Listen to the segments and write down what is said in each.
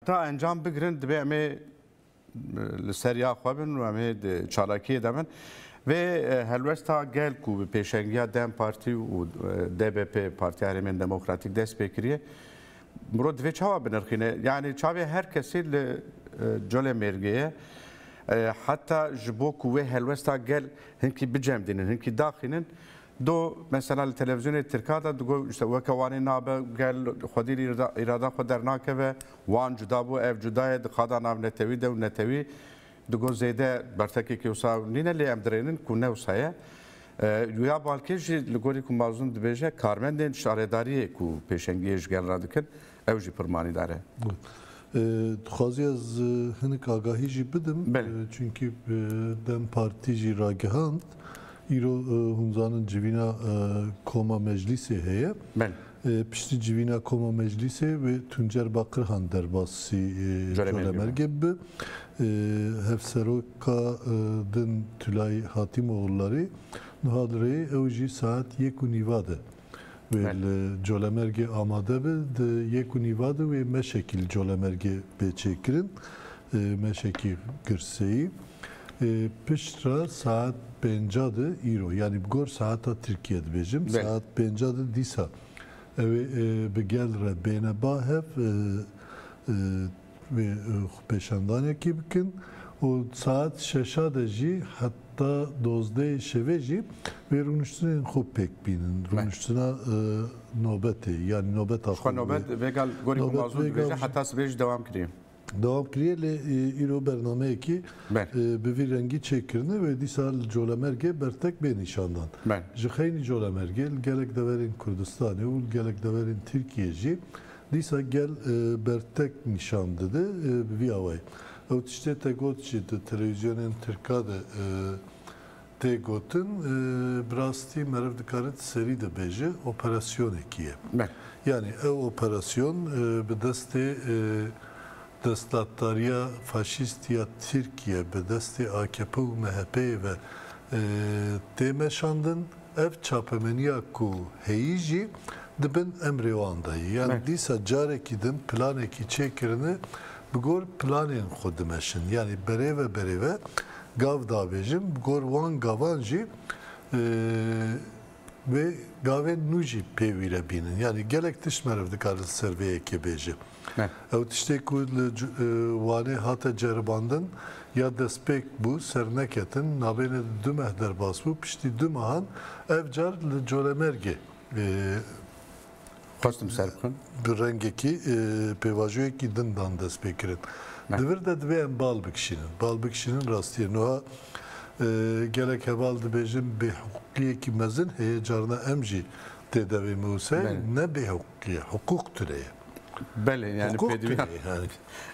Ta encam bigirin divê em ê li ser ya xwe bin û em ê di çalakiyê de bin. Vê helwesta gel ku bi pêşengiya dem Partî û DBP Partiya Herêmên Demokratîk dest pê kiriye, mirov divê çawa binirxîne? Yanî çavê her kesî li colê mêrgê ye. Heta ji bo ku wê helwesta gel hinkî bicemdînin, hinkî daxînin, Do mesela li televîzyonê tirka de digo işte weke Wanê nabe, gel xwedî li îrada xwe dernakeve, Wan cuda bû, ev cuda ye, di qada nav netewî de û netewî digo zêde bertekekê wisa nîne lê em dirênin ku ne wisa ye. Ya balkêş jî li gorî ku Mazlûm dibêje karmendên şaredariyê ku pêşengiyê ji gel re dikin Ew jî pir manîdar e. Dixwazî ez hinik agahî jî bidim çunkî dem partî jî ragihand îro hûn zanin civîna koma meclîsê heye. Piştî civîna koma meclîsê wê Tuncer Baqirhan derbasî Colemêrgê bi. Hevseroka din Tulay Hatîmoglû rê niha li rêyê ew jî saet yek û nîva de Wê li Colemêrgê amade be. Di yek û nîva de wê meşekî li Colemêrgê bê çêkirin, meşekî girseyî. Pişt re saet pênca de îro, yanî bi gor saeta Tirkiyê dibêjim, saet pênca de dîsa ew ê bi gel re bêne ba hev, Wê xwepêşandanekî bikin û di saet şeşa de jî heta dozdeyê şevê jî wê rûniştinên xwe pêk bînin. Rûniştina nobetê yanî nobeta xwe. Ji xwe nobet vêgal gorî ku ma zû dibêje heta sibê jî dewam kiriye. Dewam kiriye lê îro bernameyekî bi vî rengî çêkirine wê dîsa li Colemergê bertek bê nîşandan. Ji xeynî Colemergê li gelek deverên Kurdistanê û li gelek deverên Tirkiyê jî Dîsa gel bertek nîşan dide bi vî awayî. Ew tiştê te got jî di telewîzyonên tirka de tê gotin. Bi rastî meriv dikare di serî de bêje operasyonekî ye. Yanî ew operasyon bi destê destdatdariya faşîst ya Tirkiye, bi destê akp û MHP'ê ve tê meşandin. Ev çapemeniya ku heyî jî di bin emrê wan de ye. Yani dîsa carekî din planekî çêkirine bi gor planên xwe dimeşin. Yani berêve berêve gav dabêjin bi gor wan gavan jî wê gavên nû jî pê wî re bînin. Yani gelek tişt meriv dikare li ser vê yekê bêje. Ew tiştê ku li Wanê hate ceribandin ya destpêk bû serneketin navêne di du meh derbas bû. Piştî du mehan ev car li Colemêrgê bi rengekî pêvajoyekî din dan destpêkirin. Li vir de divê em bal bikişînin. Bal bikişînin rastiyê. Nuha gelek heval dibêjin bêhiqûqiyekî mezin heye carna em jî tê devê miwseyê ne bêhiqûq. Tirkiye hiqûq tune ye. Belê yani pêdiviya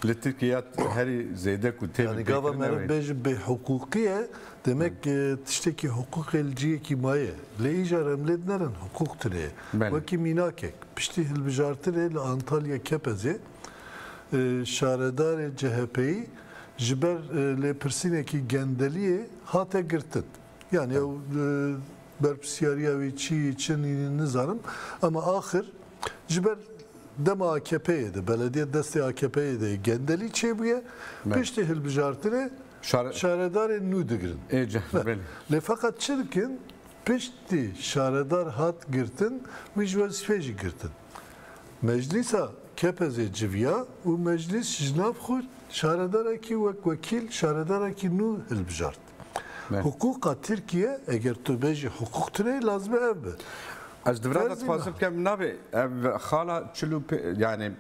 li Tirkiye ya herî zêde ku tê bê. Gava me re bêjin bêhiqûqî ye demek tiştekî hiqûqê li ciyekî maye. Lê îcar em lê dinerin hiqûq tune ye. Wekî mînakek piştî hilbijartinê li Antalya Kepezê şaredarê CHPyî ji ber lêpirsînekî gendeliyê hate girtin. Yani ew berpirsiyariya wî çi çin nizanim ama axir ji ber dema AKP'yê de belediyê destê AKP'yê de gendelî çêbûye piştî hilbijartinê şaredarên nû digirin. Lê feqet çi dikin piştî şaredar hat girtin wî ji wezîfê jî girtin. Meclîsa Kepezê civiya û meclîs ji nav xwe şaredarekî wek wekîl şaredarekî nû hilbijart. Hiqûqa Tirkiye eger tu bê jî hiqûq tune lazim e ev be. Ez di vira de dixwazim bikem nabê ev xala çil û pê yanî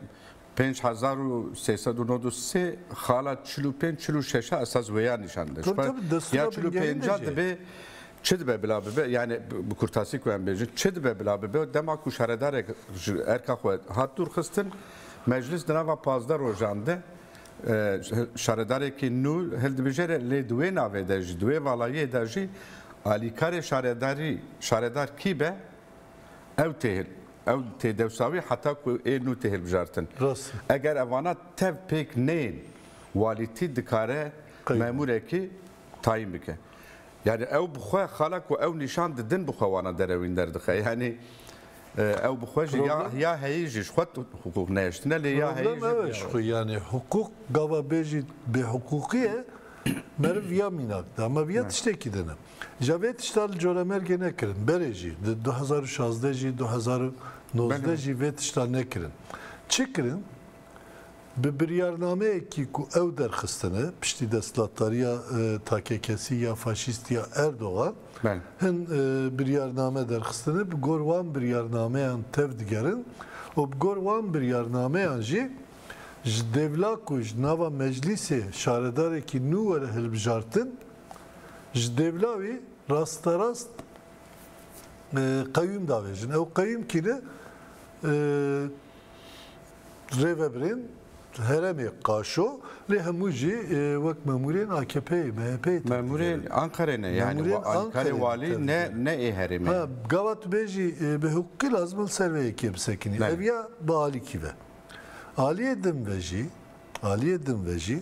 pênc hezar û sê sed û nod û sê xala çil û pênc çil û şeş a esas wêya nîşan dide. Ji ya çil û pênca dibe çi dibe bila bibe yanî bi kurtasî ku em bêjin çi dibe bila bibe dema ku şaredarek ji erka xwe hat dûrxistin meclis di nava pazdeh rojan de Şaredarekî nû hildibijêre lê di wê navê de jî, di wê valayiyê de jî alîkarê şaredarî, şaredar kî be ew tê ew tê dewsa wî heta ku ê nû tê hilbijartin. Eger evana tev pêk neyên walîtî dikare memûrekî tayîn bike. Yanî ew bi xwe xala ku ew nîşan didin bi xwe wana derewîn derdixe. Yanî Ew bi xwe jî ya ya heyî jî ji xwe hiqûq nehiştine lê ya heyî jî. Problem ew e ji xwe yanê hiqûq gava bêjî bêhiqûqî ye meriv ya mînak de ama viya tiştekî de ne. Îja vê tişta li Coremergê nekirin berê jî di du hezar û şazdeh jî du hezar û nozdeh jî vê tişta nekirin. Çi kirin? Bi biryarnameyekî ku ew derxistine piştî destlatdariya takekesî ya faşîst ya Erdogan hin biryarname derxistine bi gor wan biryarnameyan tev digerin û bi gor wan biryarnameyan jî ji dêvla ku ji nava meclîsê şaredarekî nû were hilbijartin ji dêvla wî rasterast qewîm davêjin. Ew qewîm kî ne? Rêveberên heremê Qaşo lê hemû jî wek memûrên AKP'ê, MHP'ê tên. Memûrên Anqerê ne yani wê alîkarê walî ne ne ê herêmê. Ha gava tu bêjî bi hiqûqî lazim e li ser vê yekê bisekinî. Ev ya bi alîkî ve. Aliyê din ve jî, aliyê din ve jî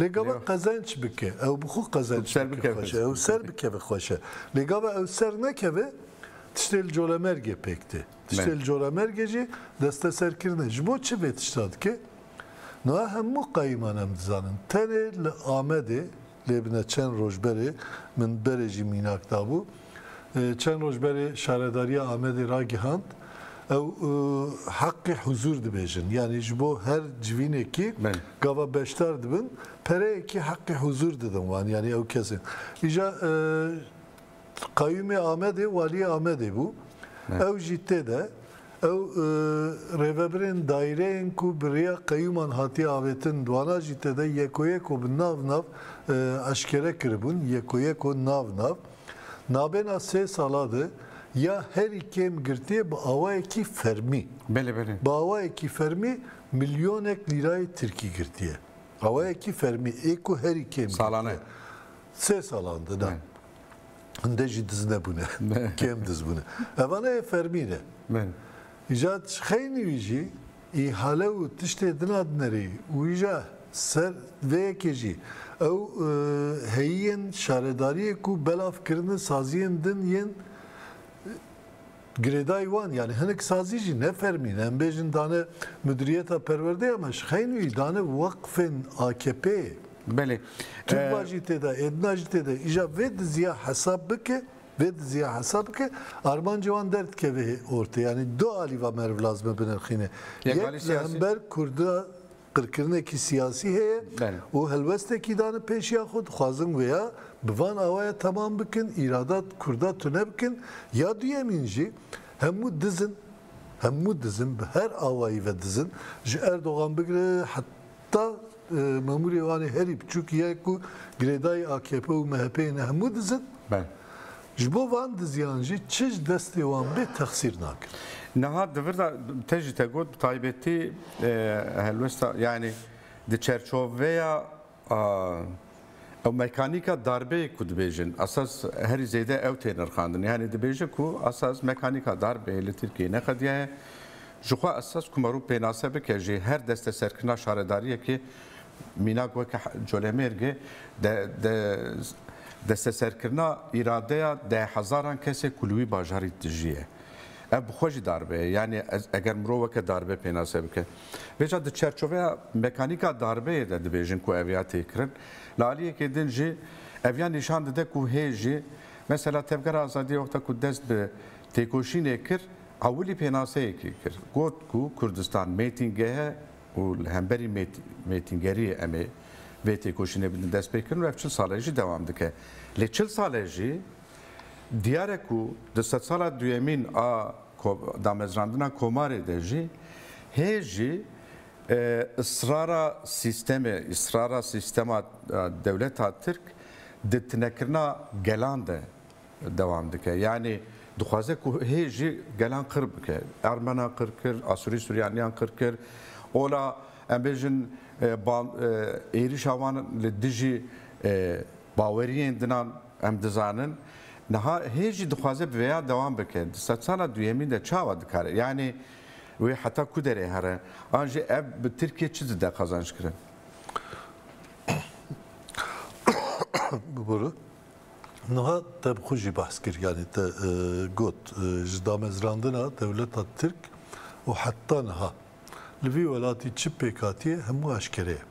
Lê gava qezenç bike, ew bi xwe qezenç bike xweş e, ew ser bikeve xweş e. Lê gava ew ser nekeve, tiştê li colemergê pêk tê. Tiştê li colemergê jî desteserkirin e. Ji bo çi vê tişta dike? Niha hemû qayîman em dizanin. Tenê li Amedê, lê bine çend roj berê min berê jî mînak dabû, Çend roj berê Şaredariya Amedê ragihand, ew heqê huzûr dibêjin. Yanî ji bo her civînekî gava beşdar dibin, pereyekî heqê huzûr didin wan, yanî ew kesên. Îja Qayûmê Amedê Waliyê Amedê bû. Ew jî tê de. Ew rêvebirên daîreyên ku bi rêya qeyûman hatiye avêtin di wana jî tê de yekoyeko bi nav nav eşkere kiribûn, yekoyeko nav nav. Nabêna sê sala de ya herî kêm girtiye bi awayekî fermî. Belê belê. Bi awayekî fermî milyonek lîrayê tirkî girtiye. Awayekî fermî ê ku herî kêm girtiye. Salane. Sê salan de na. Hinde jî diz nebûne. Kêm diz bûne. Ev ana yê fermî ne. Belê. Îja xeynî wî jî Îhale û tiştê din a dinerî û îja ser vê yekê jî ew heyîyên şaredariyê ku belav kirine saziyên din yên girêdayî wan yanî hinek sazî jî ne fermî ne em bêjin dane Mudiriyeta Perwerdeya me ji xeyn wî dane weqfên AKP'ê. Belê. Turba jî tê de, êdina jî tê de. Îja vê diziya hesab bike. Vê dizîya hesa bike armancê wan derdikeve hê ortê yanî du alî va meriv lazime binirxîne. Yek li hember kurda qirkirinekî siyasî heye û helwestekî dane pêşiya xwe dixwazin wê ya bi van awaya temam bikin îrada kurda tune bikin ya duyemîn jî hemû dizin hemû dizin bi her awayî ve dizin ji Erdogan bigire Ta mamûrê wan herî biçûk ye ku girêdayî akp û MHP'ê ne hemû dizin. Ji bo van diziyan jî çi ji destê wan bê texsîr nakin. Niha di vir de te jî te got bi taybetî helwesta yanî di çerçoveya Ew mekanîka darbeyê ku dibêjin esas herî zêde ew tê nirxandin. Yanî dibêje ku esas mekanîka darbeyê li Tirkiyeyê neqediya ye. Jixwe esas ku merû pênase bike jî her desteserkirina şaredariyekê mînak weke Colemêrgê de desteserkirina îradeya deh hezaran kesê ku li wî bajarî dijî ye. Ev bi xwe jî darbe ye. Yanî eger mirov weke darbe pênase bike. Vêca di çerçoveya mekanîka darbeyê de dibêjin ku ev ya têkirin. Li aliyekê din jî ev ya nîşan dide ku hê jî mesela Tevgera Azadiyê wexta ku dest bi têkoşînê kir ewilî pênaseyekê kir. Got ku Kurdistan mêtîngehe û li hemberî mêtîngeriyê em ê vê têkoşînê bidin destpêkirin û ev çil sale jî dewam dike. Lê çil sale jî Diyar e ku di sedsala duyemîn a damezrandina komarê de jî hê jî israra sîstemê, israra sîstema dewleta tirk di tinekirina gelan de dewam dike. Yanî dixwaze ku hê jî gelan qir bike. Ermenan qir kir, Asûrî Sûryaniyan qir kir. Ola em bêjin êrîşa wan li dijî baweriyên dinan Em dizanin niha hê jî dixwaze bi vêya dewam bike. Di sedsala duyemîn de çawa dikare? Yanî wê heta ku derê here? An jî ev bi Tirkiyê çi dide qazanc kirin? Bibore, niha te bi xwe jî behs kir. Yanî te got ji damezrandina dewleta Tirk û heta niha. Li vî welatî çi pêkhatîye hemû eşkere ye.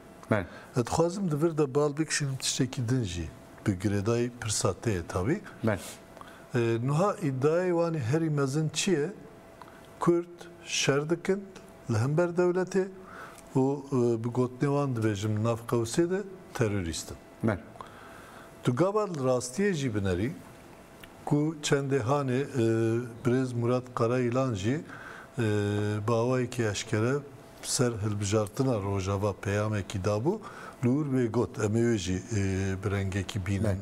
Ez dixwazim di vir de bal bikişînim tiştekî din jî bi girêdayî pirsa te ye tawî. Nuha îdiayê wan ê herî mezin çi ye? Kurd şer dikin li hember dewletê û bi gotinê wan dibêjim li nav qewsê de terorîst in. Tu gavar li rastiyê jî binerî Ku çendê hanê birêz Murat Karayilan jî bi awayekî eşkere bi ser hilbijartina Rojava peyamekî dabû li wir wê got, em ê wê jî bi rengekî bînin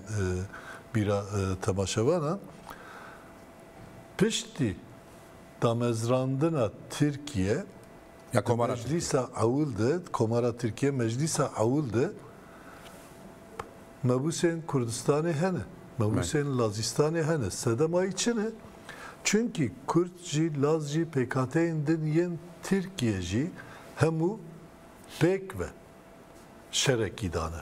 bîra temaşevanan. Piştî damezrandina Tirkiye di Meclîsa Ewil de, di Komara Tirkiye Meclîsa Ewil de, Mebûsên Kurdistanê hene, mebûsên Lazîstanê hene. Sedemayî çi ne? Çunkî Kurd jî, Laz jî, pêkhateyên din yên Tirkiye jî hemû pêk ve şerekî dane.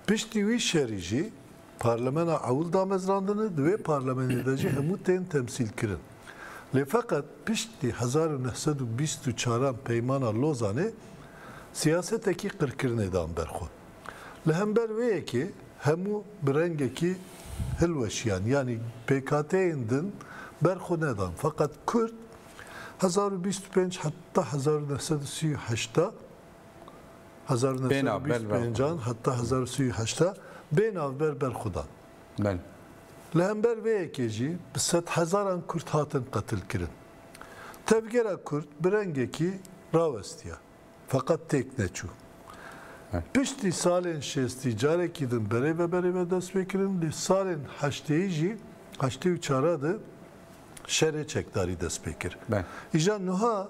Piştî wî şerî jî parlemena ewil damezrandine, di wê parlemenê de jî hemû tên temsîlkirin. Lê feqet piştî hezar û neh sed û bîst û çaran Peymana Lozanê siyasetekî qirkirinê dan ber xwe. Li hember vê yekê hemû bi rengekî hilweşiyan yanî pêkhateyên din ber xwe nedan. Feqet Kurd hezar û bîst û pênc heta hezar û neh sed û sî û heşta, hezar û neh sed û bîst û pêncan heta hezar û sî û heşta bê navber ber xwe dan. Li hember vê yekê jî bi sedhezaran Kurd hatin qetilkirin. Tevgera Kurd bi rengekî rawestiya. Feqet têk neçû. Piştî salên şêstî carekî din berê ve berê ve dest pê kirin lê salên heştêyî jî heştê û çara de şerê çekdarî dest pê kir. Îja nuha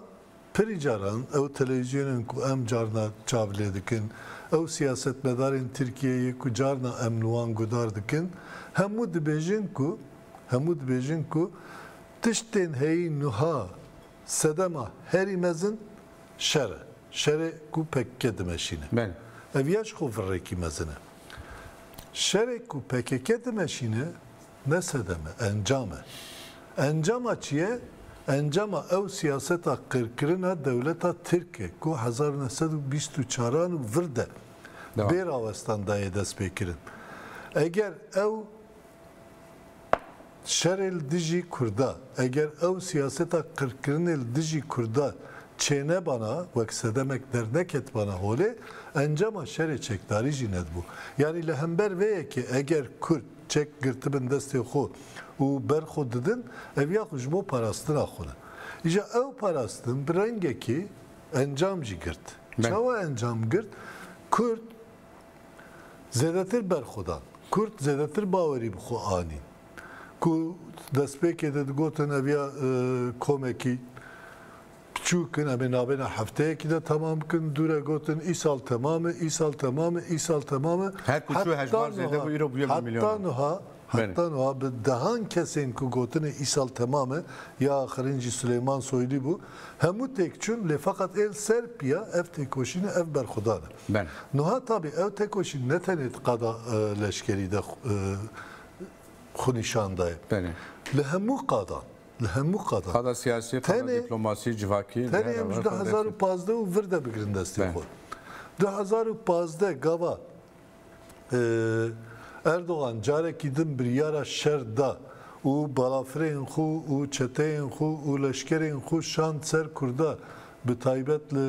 pirî caran ew telewîzyonên ku em carna çav lê dikin, ew siyasetmedarên Tirkiyeyê ku carna em li wan gudar dikin hemû dibêjin ku hemû dibêjin ku tiştên heyî nuha Sedema herî mezin şer e. Şerê ku pkk dimeşîne. Ev ya ji xwe virekî mezin e. Şerê ku pkk dimeşîne ne sedem e, encam e. Encama çi ye? Encama ew siyaseta qirkirina dewleta tirk e ku hezar û neh sed û bîst û çaran û vir de bê rawestan dayê destpêkirin. Eger ew Şerê li dijî Kurda, eger ew siyaseta qirkirinê li dijî Kurda çênebana, wek sedemek derneketibana holê, encama şerê çekdarî jî nedibû. Yanî li hember vê yekê eger Kurd çek girtibin destê xwe û ber xwe didin, ev ya xwe ji bo parastina xwe ne. Îja ew parastin bi rengekî encam jî girt. Çawa encam girt? Kurd. Zêdetir berxwedan. Kurd zêdetir bawerî bi xwe anî. Ku destpêkê de digotin ev ya komekî piçûk in, em ê navêna hefteyekî de temam bikin, dû re gotin îsal temam e, îsal temam e, îsal temam e. Her ku çû hejmar zêde bû, îro bûye bi milyonan. Heta nuha, heta nuha bi dehan kesên ku gotinê îsal temam e, ya axirîn jî Suleyman Soylî bû, hemû têk çûn, lê feqet ê li ser piya ev têkoşîn e, ev berxwedan e. Ben. Nuha tabî ew tekoşîn ne tenê di qada leşkerî de xwe nîşan daye. Belê. Li hemû qadan, li hemû qadan. Qada siyasî, qada dîplomasî, civakî. Tenê em ji du hezar û pazdeh û vir de bigirin destê xwe. Du hezar û pazdeh gava Erdogan carekî din biryara şer da û balafirên xwe û çeteyên xwe û leşkerên xwe şand ser Kurda bi taybet li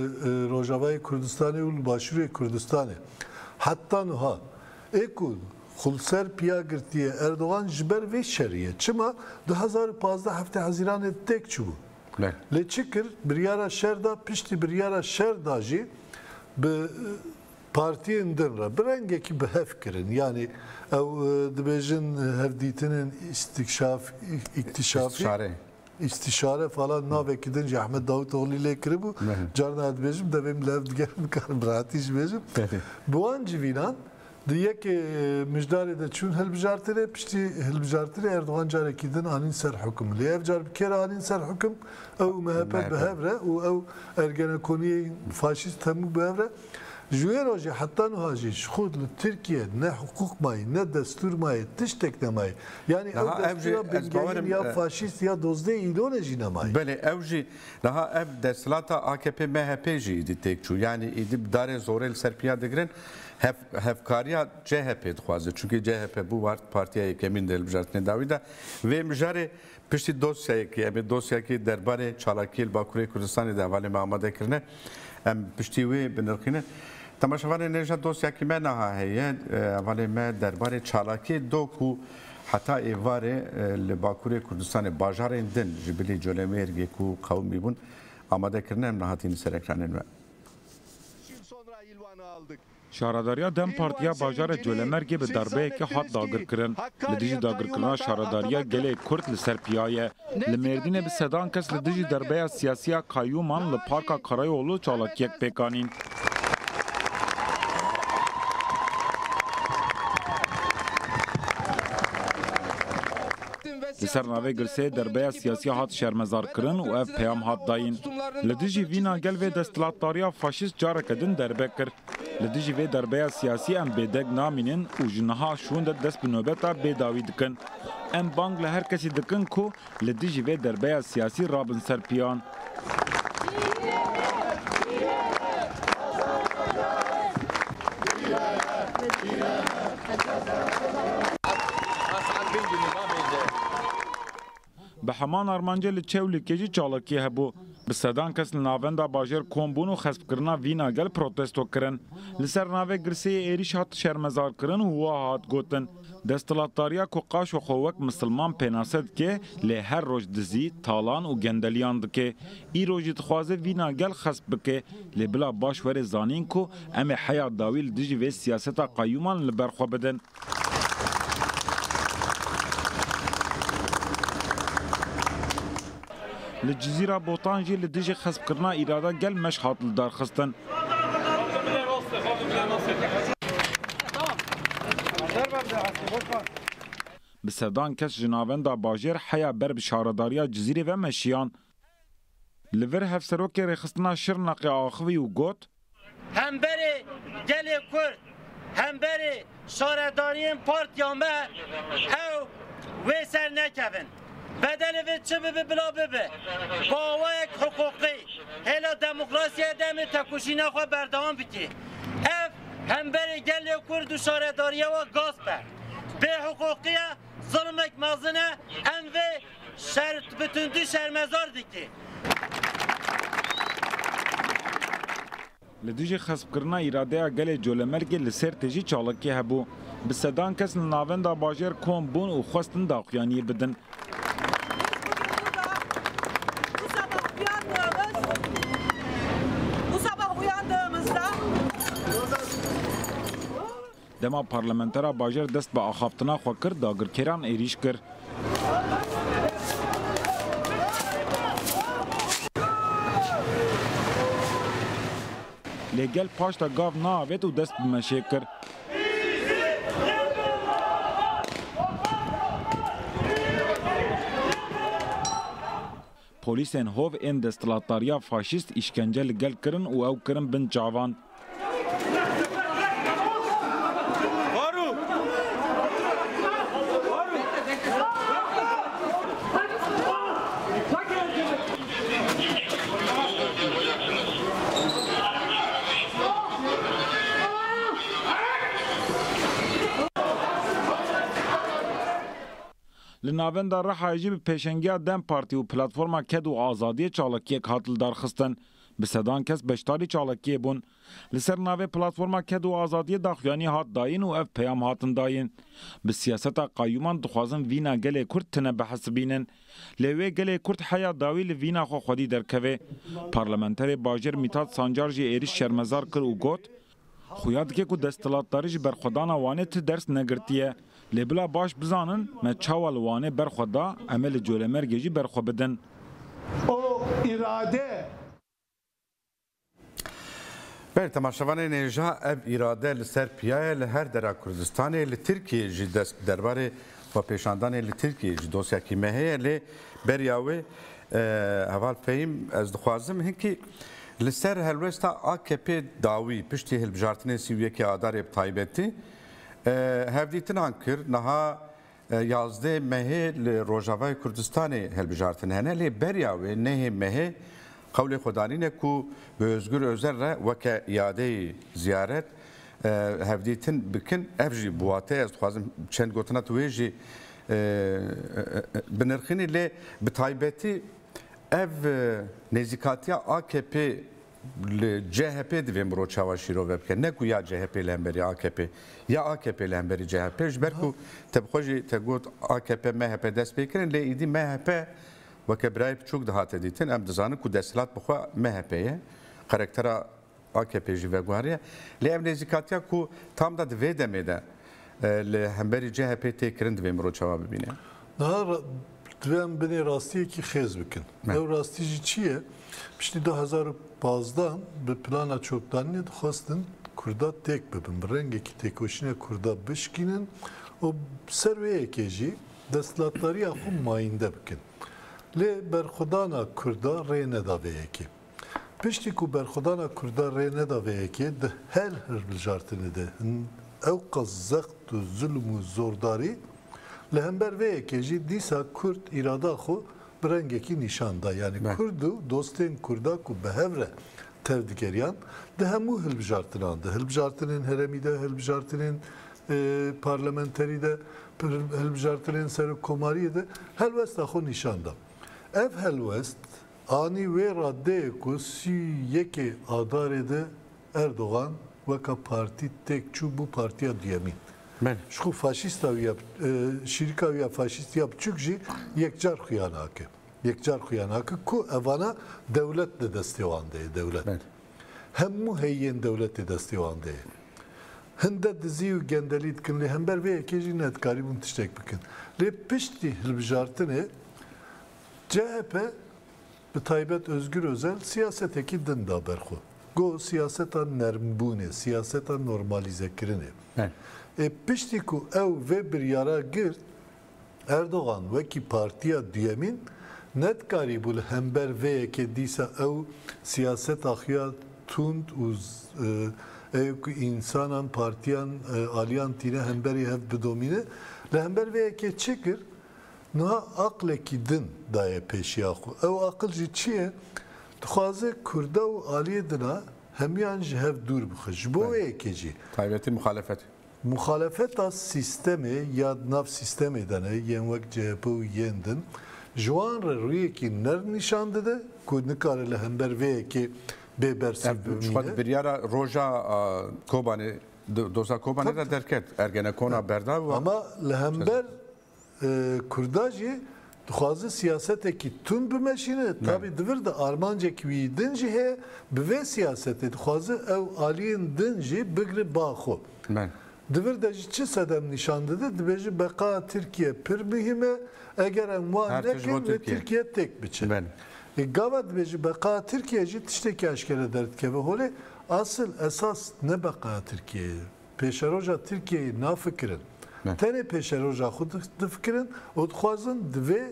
Rojavayê Kurdistanê û li Başûrê Kurdistanê. Heta nuha ê ku xulser piya girtiye Erdogan ji ber vê şerî ye. Çima du hezar û pazdeh heftê Hezîranê têk çibû. Lê çi kir? Biryara şer da, piştî biryara şer da jî bi Partiyên din re bi rengekî bi hev kirin. Yanî ew dibêjin hevdîtinên îstîkşaf, îktîşafî, îstîşare falan navekî din jî Ehmed Davûtoglî lê kiribû. Carna ez dibêjim devê min li hev digere nikarim bi rehatî jî bêjim. Bi wan civînan di yekê mijdarê de çûn hilbijartinê. Piştî hilbijartinê Erdogan carekî din anîn ser hukum. Lê ev car bi kê re anîn ser hukum? Ew û MHP bi hev re û ew ergenekoniyên faşîst hemû bi hev re. Ji wê re jî heta nuha jî ji xurt li Tirkiye ne hiqûq mayî, ne destûr mayî, tiştek nemayî. Yanî ew destûra bingehîn ya faşîst ya dozdê îlonê jî nemayî. Belê ew jî niha ev desthilata akp MHP jî îdî têk çû. Yanî îdî bi darê zorê li ser piya digirin. Hevkariya CHP'ê dixwazin. Çunkî CHP bû partiya yekemîn di hilbijartinê dawî de. Vê mijarê Piştî dosyayekî, em ê dosyayekî derbarê çalakiyê li Bakurê Kurdistanê di hevalê me amade kirine, em piştî wê binirxînin. Temaşevanê nê jî dosyayekî me naha heye, hevalê me derbarê çalakiyê do ku heta êvarê li Bakurê Kurdistanê bajarên din ji bilî Colemêrgê ku qewimî bûn amade kirine em niha tînin ser ekranên me. Şaredariya dem Partiya Bajarê Colemêrgê bi darbeyekê hat dagirkirin. Li dijî dagirkirina şaredariya gelê Kurd li ser piya ye. Li Mêrdînê bi sedan kes li dijî darbeya siyasî ya kayyûman li Parka Karayolû çalakiyek pêk anîn. Li ser navê Gulsê derbeya siyasî hat şermezarkirin û ev peyam hat dayîn, Li dijî vîn a gel vê desthilatdariya faşîst careke din derbe kir. Li dijî vê derbeya siyasî em bêdeng namînin û ji niha şûnde dest bi nobeta bêdawî dikin. Em bang li her kesî dikin ku li dijî vê derbeya siyasî rabin ser piyan. Bi heman armancê li Çewlîgê jî çalakî hebû. Bi sedan kes li navenda bajêr kom bûn û xespkirina vîna gel protesto kirin. Li ser navê girseyê êrîş hat şermezarkirin û wiha hat gotin, Desthilatdariya ku qaşo xwe wek misilman pênase dike, lê her roj dizî, talan û gendeliyan dike. Îro jî dixwaze vîna gel xesp bike. Lê bila baş were zanîn ku em ê heya dawî li dijî vê siyaseta qeyûman li ber xwe bidin. Li Cizîra Botan jî li dijî xespkirina îrada gel meş hat lidarxistin. Bi sedan kes ji navenda bajêr heya ber bi şaredariya Cizîrê ve meşiyan. Li vir Hevserokê Rêxistina Şirneqê axivî û got, Hemberê gelê Kurd, hemberê şaredariyên partiya me ew wê ser nekevin. Bedelê vê çi bibe bila bibe, bawayek hiqûqî hêla demokrasiyê demê têkoşîna xwe berdewam bike. Ev hemberê gelê Kurd û şaredariya we gasp e, bêhiqûqî ye, zilmek mezin e, em vê Şer bi tundî şermezar dike. Li dijî xespkirina îradeya gelê Colemergê li Sêrtê jî çalakî hebû. Bi sedan kes li navenda bajêr kom bûn û xwestin daxuyaniyê bidin. Dema parlamentera bajar dest bi axaftina xwe kir, dagirkêran êrîş kir. Lê gel paşta gav naavêt û dest bi meşê kir. Polîsên hov ên desthilatdariya faşîst îşkence li gel kirin û ew kirin bin çavan. Li Navenda Rihayê jî bi pêşengiya dem Partî û Platforma Ked û Azadiyê çalakiyek hat lidarxistin. Bi sedan kes beşdarî çalakiyê bûn. Li ser navê Platforma Ked û Azadiyê daxuyanî hat dayîn û ev peyam hatin dayîn, Bi siyaseta qeyûman dixwazin vîna gelê Kurd tine bihesibînin. Lê wê gelê Kurd heya dawî li vîna xwe xwedî derkevê. Parlamenterê bajêr Mîtat Sancar jî êrîş şermezar kir û got, Xuya dike ku desthilatdarî ji berxwedana Wanê ti ders negirtiye. Lê bila baş bizanin me çawa li Wanê berxwe da em ê li Colemêrgê jî berxwe bidin. O îrade. Belê temaşevanên ên ja ev îrade li ser piya ye li her dera Kurdistanê li Tirkiyeyê jî dest bi derbarê Xwepêşandanê li Tirkiyeyê ji dosyakî me heye lê beriya wê Heval Fehîm ez dixwazim hinkî li ser helwesta AKP'ê dawî piştî hilbijartinên sî û yekê Adarê bi taybetî hevdîtinan kir. Niha yazdê Mehê li Rojavayê Kurdistanê hilbijartin hene lê beriya wê nehê Mehê Qewlê xwe danîne ku bi Ozgur Ozel re weke yadeyî ziyaret, hevdîtin bikin. Ev jî bi wateyê ez dixwazim çend gotina tu wê jî binirxînî lê bi taybetî ev nêzîkatiya AKP'ê li CHP'ê divê mirov çawa şîrove bike. Ne ku ya CHP'ê li hemberî AKP'ê ya AKP'ê li hemberî CHP'ê ji ber ku te bi xwe jî te got AKP, MHP dest pê kirin lê îdî MHP Weke birayê biçûk dihate dîtin, em dizanin ku desthilat bi xwe MHP ye, qerektera AKP'ê jî veguheriye. Lê ev nêzîkatiya ku tam da di vê demê de li hemberî CHP'ê tê kirin divê mirov çawa bibîne? Niha divê em binê rastiyekî xêz bikin. Ew rastî jî çi ye? Piştî du hezar û pazdeh bi plana çokdanînê dixwestin Kurda têk bibin, bi rengekî têkoşîna Kurda bişkînin û bi ser wê yekê jî Destlatdariya xwe mayînde bikin. Lê berxwedana Kurda rê neda vê yekê. Piştî ku berxwedana Kurda rê neda vê yekê di her hilbijartinê de hin ewqas zext û zulm û zordarî, li hember vê yekê jî dîsa Kurd îrada xwe bi rengekî nîşan da. Yanî Kurd û dostên Kurda ku bi hev re tevdigeriyan di hemû hilbijartinan de, hilbijartinên heremî de, hilbijartinên Di parlamenterî de, hilbijartinên serokkomariyê de helwesta xwe nîşan da. Ev helwest anî wê radeyê ku sî û yekê Adarê de Erdogan weka partî têk çû bû partiya duyemî. Ji xwe faşîsta wî ya şîrika wî ya faşîstî ya biçûk jî yekcar xuya nake. Yekcar xuya nake ku evana dewlet di destê wan de ye. Dewlet. Hemû heyîyên dewletê destê wan de ye. Hinde dizî û gendelî dikin lê hember vê yekê jî nedikarîbûn tiştek bikin. Lê piştî hilbijartinê chp bi taybet Ozgur Ozel siyasetekî din da ber xwe. Got siyaseta nermbûnê, siyaseta normalîzekirinê. Ê piştî ku ew vê biryara girt Erdogan wekî partiya duyemîn nedikarîbû li hember vê yekê dîsa ew siyaseta xuya tund û ê ku însanan, partiyan, aliyan tîne hemberî hev bidomîne. Li hember vê yekê çi kir? Niha aqlekî din daye pêşiya xwe. Ew aqil jî çi ye? Dixwaze kurda û aliyê din a hemiyan ji hev dûr bixe. Ji bo wê yekê jî. Taybetî muxalefet. Muxalefeta sîstemê ya di nav sîstemê de ne, yên wek chp û yên din, ji wan re rûyekî nirn nîşan dide ku nikare li hember vê yekê bê bersîv bimîne. Ev ji xwe di biryara roja Kobanê, doza Kobanê de derket. Ergenekona Berdaw. Ama li hember Kurda jî dixwazin siyasetekî tund bimeşîne, tabî di vir de armancek wî din jî heye, bi vê siyasetê dixwazin ew aliyên din jî bigrin ba xwe. Di vir de jî çi sedem nîşan dide, dibêje beqa Tirkiye pir muhîm e, eger em wan nekin lê Tirkiye têk biçe. Gava dibêje beqa Tirkiye jî tiştekî eşkere derdikeve holê, asil esas ne beqa Tirkiye ye. Pêşeroja Tirkiyeyê nafikirin. Tenê pêşeroja xwe difikirin û dixwazin di vê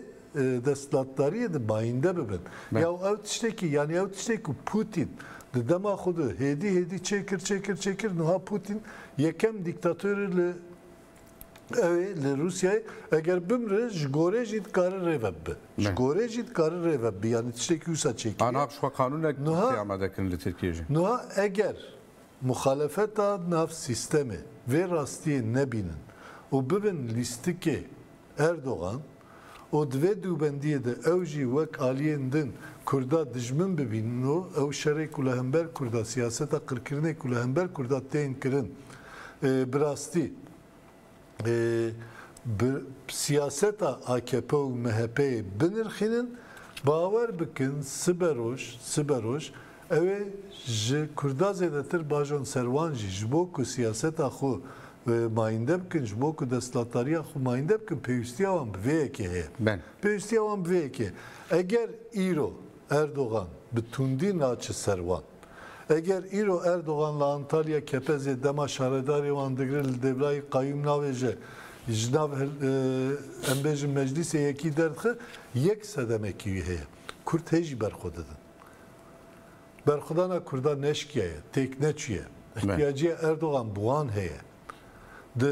desthilatdariyê de mayînde bibin. Ya û ew tiştekî yanî ew tiştê ku Pûtîn di dema xwe de hêdî hêdî çêkir çêkir çêkir niha Pûtîn yekem dîktatorê li ew ê li Rûsyayê eger bimire ji gorê jî dikare rêve bibe. Ji gorê jî dikare rêve bibe yanî tiştekî wisa çêkiriye. Niha piştxwe qanûnek pêamade kirin li Tirkiyê jî. Niha eger Muxalefeta nav sîstemê vê rastiyê nebînin û bibin lîstikê Erdogan û di vê dûbendiyê de ew jî wek aliyên din Kurda dijmin bibînin û ew şerê ku li hember Kurda, siyaseta qirkirinê ku li hember Kurda tên kirin bi rastî. bi siyaseta akp û MHP'ê binirxînin, bawer bikin siberoj siberoj ew ê ji Kurda zêdetir bajon ser wan jî ji bo ku siyaseta xwe mayînde bikin, ji bo ku destlatdariya xwe mayînde bikin pêwîstiya wan bi vê yekê heye. Pêwîstiya wan bi vê yekê ye. Eger îro Erdogan bi tundî naçe ser wan, Eger îro Erdogan li Antalya kepezê dema şaredarê wan digre li Dêvlayî qayûm navêje ji nav em bêjin meclîsê yekî derdixe yek sedemekî wî heye. Kurd hê jî ber xwe didin. Berxwedana kurdan neşkiyaye, têk neçûye. Îhtiyacîya Erdogan bi wan heye. Di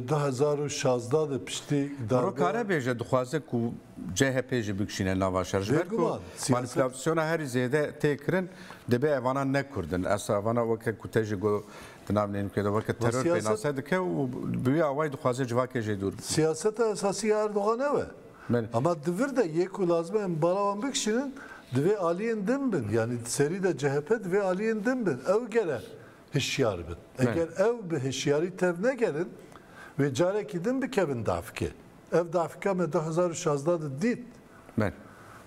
du hezar û şazdeh de piştî darbeya. Rok Karebêje dixwaze ku CHP'ê jî bikişîne nava şer. Ji ber ku manîpulasyona herî zêde tê kirin dibê evanan ne kurd in. Esa evana weke ku te jî got di nav neynikê de weke teror pênase dike û bi wî awayî dixwaze civakê jê dûr bikîne. Siyaseta esasî ya Erdogan ew e. Ama di vir de yê ku lazim e em bala wan bikişînin divê aliyên din bin. Yanî di serî de CHP divê aliyên din bin. Ew gere hişyar bin. Eger ew bi hişyarî tevnegerin, wê carekî din bikevin davkê. Ev davka me du hezar û şazdeh de dît.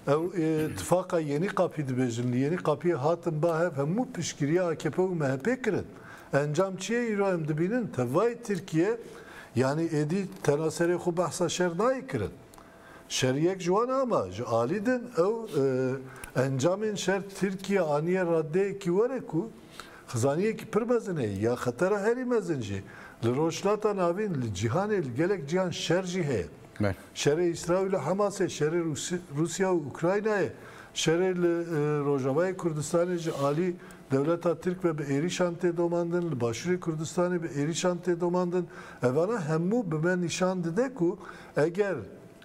Ew ê tifaqa Yenî Qapî dibêjin. Li Yenî Qapiyê hatin ba hev hemû piştgiriya akp û MHP'ê kirin. Encam çi ye îro em dibînin? Tevayê Tirkiye yanî êdî tena serê xwe behsa şer nayê kirin. Şeriyek ji wan a ma ji alî din ew encamên şer Tirkiye aniye raddeyekî were ku xizaniyekî pir mezin heye ya xetera herî mezin jî li Rojhilata Navîn, li cîhanê li gelek cîhan şer jî heye. Şerê Îsraîl û Hemasê, şerê Rûsya û Ukraynayê, şerê li Rojavayê Kurdistanê ji alî dewleta Tirk ve bi êrîşan tê domandin, li Başûrê Kurdistanê bi êrîşan tê domandin. Evana hemû bi me nîşan dide ku Eger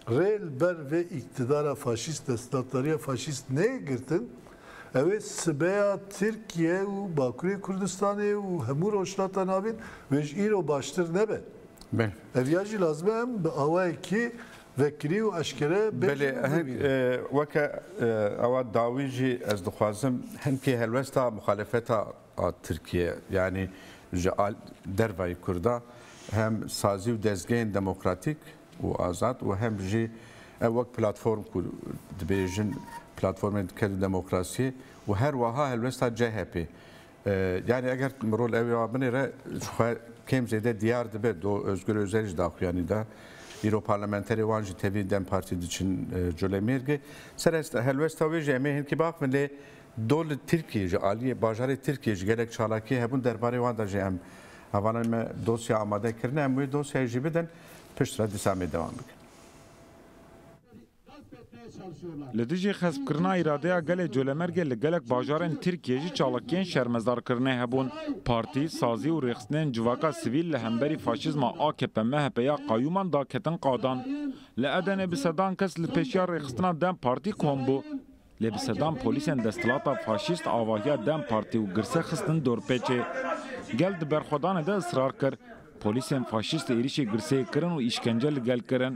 rê li ber vê îktidara faşîst, desthilatdariya faşîst neyê girtin, ew ê sibeya Tirkiye û Bakurê Kurdistanê û hemû Rojhilata Navîn wê ji îro baştir nebe. Ev ya jî lazim e em bi awayekî vekirî û eşkere bêjin û bibînin. Weke awa dawî jî ez dixwazim hin kê helwesta muxalefeta a Tirkiyeyê yanî ji dervayî Kurda hem sazî û dezgehên demokratîk û azad û hem jî ew wek platform ku dibêjin platformên diker û demokrasiyê û her weha helwesta CHP'ê yanî eger rol ew ê binêre ji xwe kêm zêde diyar dibe do Ozgur Ozel jî daxuyanî da îro parlamenterê wan jî tevî dem partî diçin Colemêrgê ser helwesta wê jî em ê hinkî biaxivin lê Do li Tirkiyê ji aliyê bajarê Tirkiyê ji gelek çalakiyê hebûn derbarê wan de jî em hevalên me dosya amade kirine em wê dosyayê jî bidin piştre dîsa em ê dewam bikin. Li dijî xespkirina îradeya gelê Colemêrgê li gelek bajarên Tirkiyê jî çalakiyên şermezarkirinê hebûn. Partî, sazî û rêxistinên civaka sivîl li hemberî faşîzma AKP-MHP ya qayûman daketin qadan. Li Edenê bi sedan kes li pêşiya rêxistina dem Partî kom bû. Lê bi sedan polîsên desthilata faşîst avahiya dem partî û girse xistin dorpêçê. Gel di berxwedanê de israr kir. Polîsên faşîst êrîşê girseyê kirin û îşkence li gel kirin.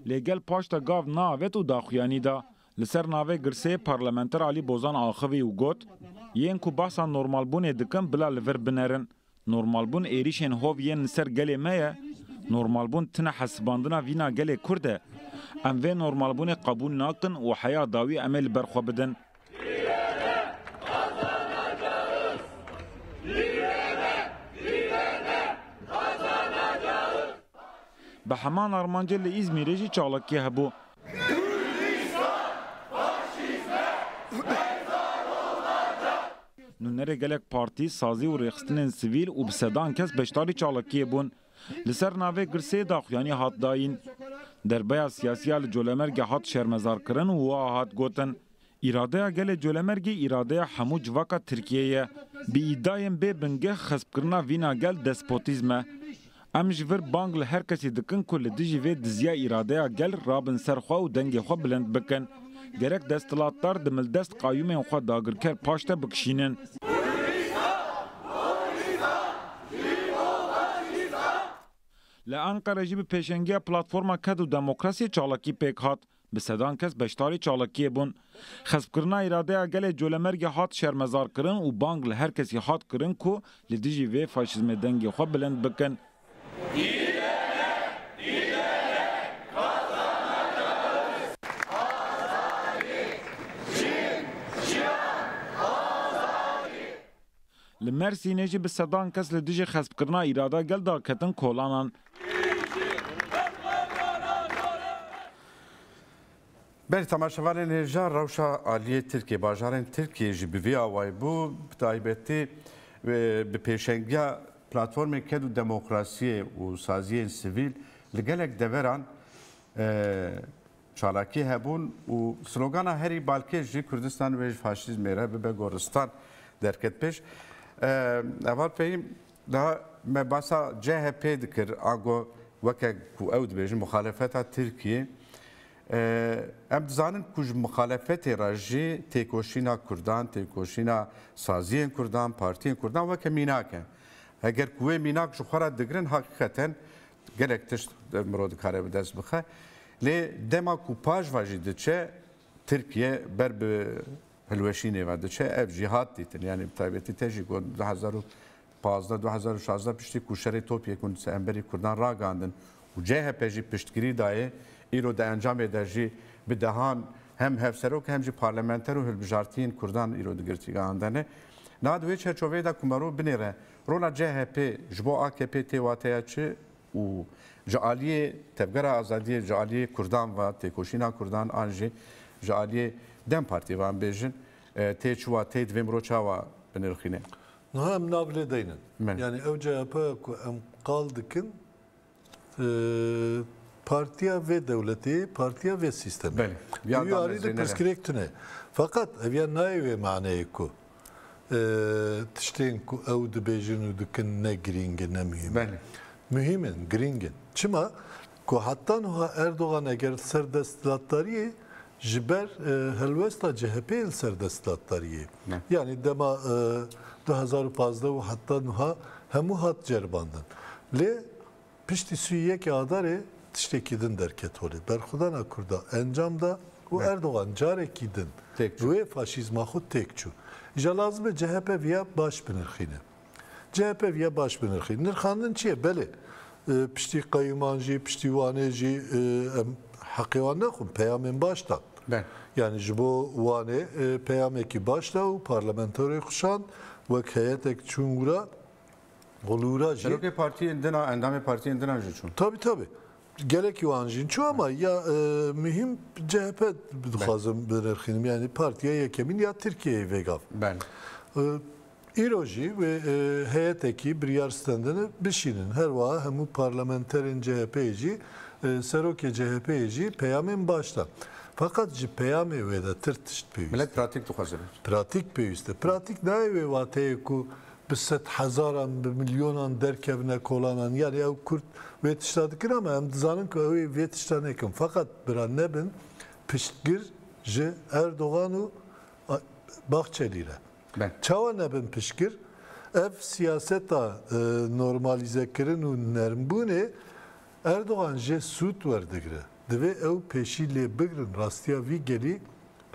Lê gel paşta gav neavêt û daxuyanî da. Li ser navê girsê parlamenter Alî Bozan axivî û got, Yên ku behsa normalbûnê dikin bila li vir binerin. Normalbûn êrîşên hov yên li ser gelê me ye. Normalbûn tine hesibandina vîna gelê Kurd e. Em vê normalbûnê qebûl nakin û heya dawî em ê li ber xwe bidin. Bi heman armancê li Îzmîrê jî çalakî hebû. Nûnerê gelek partî, sazî û rêxistinên sivîl û bi sedan kes beşdarî çalakiyê bûn. Li ser navê Girseyê daxuyanî hat dayîn. Derbeya siyasî ya li Colemêrgê hat şermezarkirin û wiha hat gotin, Îradeya gelê Colemergî îradeya hemû civaka Tirkiyê ye. Bi îdayên bê bingeh xespkirina vîna gel despotîzm e. Em ji vir bang li her kesî dikin ku li dijî vê dizya îradeya gel rabin ser xwe û dengê xwe bilind bikin. Gerek desthilatdar di mildest qayûmên xwe dagirker paş de bikişînin. Li Enqere jî bi pêşengiya Platforma Ked û Demokrasiyê çalakî pêk hat. Bi sedan kes beşdarî çalakiyê bûn. Xespkirina îradeya gelê Colemergê hat şermezarkirin û bang li her kesî hat kirin ku li dijî vê faşîzmê dengê xwe bilind bikin. Li Mersînê jî bi sedan kes li dijî xespkirina îrada gel de ketin kolanan. Belê temaşevanên hêja rewşa aliyê Tirkiyê, bajarên Tirkiyê jî bi vî awayî bû, bi taybetî bi pêşengiya Platformê Ked û Demokrasiyê û saziyên sivîl li gelek deveran Çalakî hebûn û slogana herî balkêş jî Kurdistan wê ji faşîzmê re bibe goristan derket pêş. Heval Fehîm da me basa CHP'ê dikir ango weke ku ew dibêjin muxalefeta Tirkiyê. Em dizanin ku ji muxalefetê re jî têkoşîna Kurdan, têkoşîna saziyên Kurdan, partiyên Kurdan weke mînak e. Eger ku wê mînak ji xwe re digirin heqîqeten Gelek tişt miro dikare bi dest bixe. Lê dema ku pajva jî diçe Tirkiye ber bi hilweşînê ve diçe ev jî hat dîtin. Yanî bi taybetî te jî got 2015-2016 piştî ku şerê topyê ku li hemberî Kurdan ragandin û CHP jî piştgirî dayê îro di encamê de jî bi dehan hem hevserok hem jî parlamenter û hilbijartiyên Kurdan îro di girtîgehan de ne. Niha di wê çerçoveyê de ku mero binêre Rola CHP ji bo akp tê wateya çi û ji aliyê Tevgera Azadiyê, ji aliyê Kurdan ve, têkoşîna Kurdan an jî ji aliyê dem Partî ve em bêjin tê çi wateyê divê mirov çawa binirxîne? Niha em nav lê deynin. Yanî ew CHP ye ku em qal dikin Partiya vê dewletê, partiya vê sîstemê. Belê. Wî alî de pirsgirêk tune. Feqet ev ya nayê wê maneyê ku tiştên ku ew dibêjin û dikin ne girîng in, ne muhîm in. Muhîm in, girîng in. Çima? Ku heta niha Erdogan eger li ser desthilatdariyê Ji ber helwesta CHP'ê li ser desthilatdariyê. Yanî dema du hezar û pazdeh û heta nuha hemû hat ceribandin. Lê piştî sî û yekê adarê tiştekî din derket holê. Berxwedana Kurda encam da û Erdogan carekî din bi wê faşîzma xwe têk çû. Îja lazim e CHP viya baş binirxîne. CHP viya baş binirxî. Nirxandin çi ye? Belê piştî qeyûman jî, piştî Wanê jî em heqê wan nexwin peyamên baş dan. Yani ji bo Wanê peyamekî baş da û parlamentorê xuşand wek heyetek çûn wira Xulûra jî. Serokê partiyên din a, endamê partiyên din a jî çûn. Tabî tabî. Gelekî wan jîn çû ama ya muhîm CHP dixwazim birêxînim yanî partiya yekemîn ya Tirkiyeyê vêgav. Îro jî wê heyetekî biryar stendine bişînin. Her wiha hemû parlamenterên CHP'ê jî serokê CHP'ê jî peyamên baş da. Feqet ji peyamê wê de tir tişt pêwîst e. Milet pratîk dixwaze bir. Pratîk pêwîst e. Pratîk nayê wê wateyê ku bi sed hezaran, bi milyonan derkevine kolanan. Yanî ew Kurd wê tişta dikin ama em dizanin ku ew ê vê tişta nekin. Feqet bira nebin piştgir ji Erdogan û Bahçelî re. Çawa nebin piştgir? Ev siyaseta normalîzekirin û nermbûnê Erdogan jê sûd werdigire. Divê ew pêşî lê bigirin rastiya vî gelî,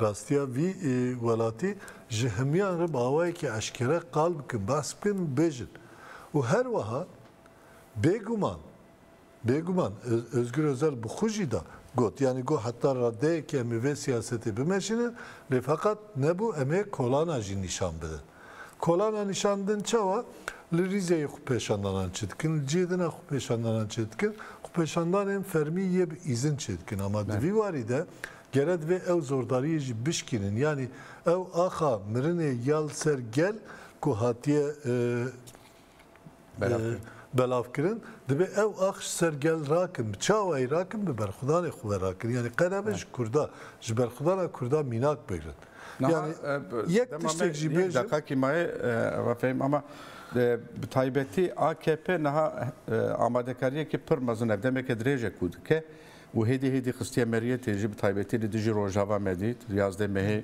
rastiya vî welatî ji himiyan re bi awayekî eşkere qal bikin, behs bikin û bêjin. Û her weha bêguman, bêguman Ozgur Ozel bi xwe jî da got, yanî got heta radeyekî em ê vê siyasetê bimeşînin, lê feqat nebû em ê kolana jî nîşan bidin. Kolana nîşandin çawa li Rîzeyê xwepêşandanan çêdikin, li cihê din a xwepêşandanan çêdikin, xwepêşandanên fermî yê bi îzin çêdikin. Ama di vî warî de gere divê ew zordariyê jî bişkînin. Yanî ew axa mirinê ya li ser gel ku hatiye belav kirin dibe ew ax ji ser gel rakin bi çawayî rakin bi berxwedanê xwe ve rakin yanî qerebe ji kurda ji berxwedana kurda mînak bigrin yani yek tiştek jî bê deqakî mayê refehim ama bi taybetî AKP niha amadekariyekî pir mezin ev demeke dirêje ku dike û hêdî hêdî xistiye meriyetê jî bi taybetî li dijî Rojava me dît yazdeh mehê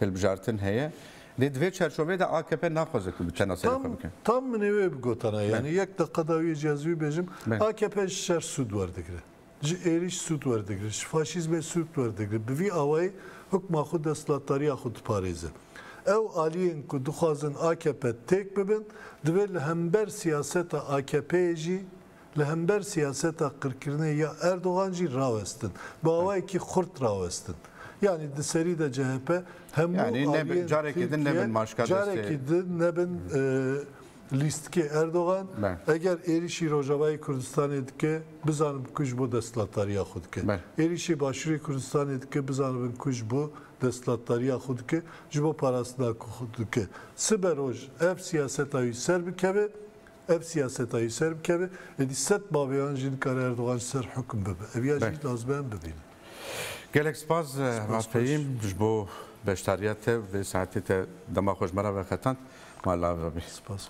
hilbijartin heye. Lê di vê çerçoveyê de akp naxwaze ku bi tena serê xwe bike. Tam min ê wê bigotana. Yanî yek deqa dawî yê cî ez wî bêjim. Akp ji şer sûd werdigire. Ji êrîş sûd werdigire. Ji faşîzmê sûd werdigire. Bi vî awayî hukma xwe desthilatdariya xwe diparêze. Ew aliyên ku dixwazin akp têk bibin divê li hember siyaseta akp'ê jî, Li hember siyaseta qirkirinê ya Erdogan jî rawestin. Bi awayekî xurt rawestin. Yanî di serî de chp hemû aliyên Tirkiye carekî din nebin lîstikê Erdogan. Eger êrîşî Rojavayê Kurdistanê dike bizanibin ku ji bo desthilatdariya xwe dike. Êrîşê Başûrê Kurdistanê dike bizanibin ku ji bo desthilatdariya xwe dike, ji bo parastina xwe dike. Sibe roj ev siyaseta wî serbikeve Ev siyaseta yê ser bikeve, êdî sed baveyan jî dikare Erdogan ji ser hikum bibe. Ev ya jî lazim e em bibînin. Gelek spas Hema Fehîm ji bo beşdariya te vê saetê te dema xwe ji me re veqetand. Ma li avi bî. Spas.